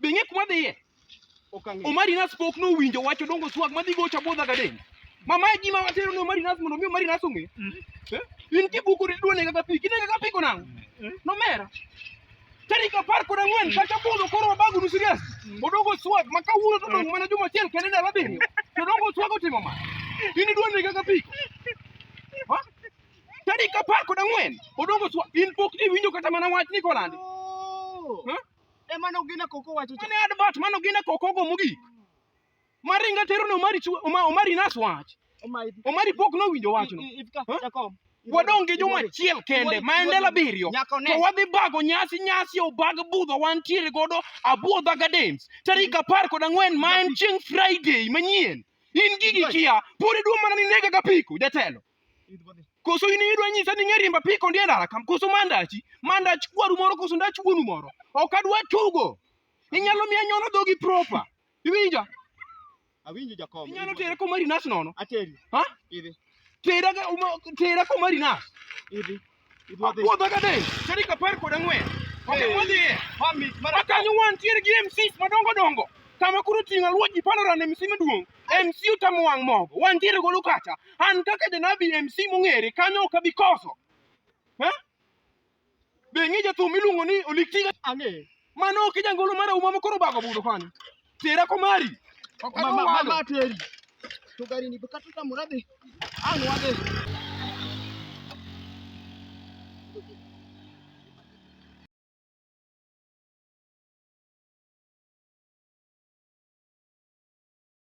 Be ing'e kuma dhiye? Ok ang'eyo. Omari Nas pok nowinjo wach odongo swag madhi gocha bodha gadeni. Mama e gima watero ne Omari Nas mondo mi Omari Nas ong'e. Eh? In kibuku ni duone kaka pi, kine kaka pi konang'. Nomera. Tarik apar kod ang'wen kata budho koro wabagu nu serious. Odongo swag ma kawuono to dong' mana juma achiel kende ndalo abiriyo. To odongo swag otimo ma. In iduone kaka pi. Ha? Tarik apar kod ang'wen odongo swag. In pok iwinjo kata mana wach ni kolandi. Ha? E mano gina koko wacho cha. Mane advert mano gina koko go mugi. Maringa tero no mari chwe oma omari nas wach. Omari pok no winjo wach no. Wadong gi juma chiel kende ma ende la biriyo. To wadhi bago nyasi nyasi obag budho wan tiere godo abuodha gardens. Tarik apar kod ang'wen ma en chieng Friday manyien. In gigi kia, pori duo mana ni nega ga piko jatelo. Koso in idwa nyisa ni ng'erimba piko ndi ndara kam koso mandachi mandach kwaru moro koso ndach wuonu moro ok adwa tugo inyalo miya nyono dhogi proper iwinja awinjo jakom inyalo tere komari nas nono ateri ha idhi tera tera komari nas idhi Apuodho ka dhi. Tarik apar kod ang'wen. Ok wadhiye. Ma kanyo wantiere gi MCs madongo dongo. Kama koro ting'o aluo ji palora ne MC maduong'. MC otamo wang' mogo. Wantiere golo kacha. An kaka janabi MC mong'ere kanyo ok abi koso. Eh? Be ing'e jathum iluongo ni Oliktiga? Ang'e. Mano ok jangolo mara uma mokoro bago budo kwani. Tera komari. Mama mama teri. To gari ni bukatu ta murade. Anu ade.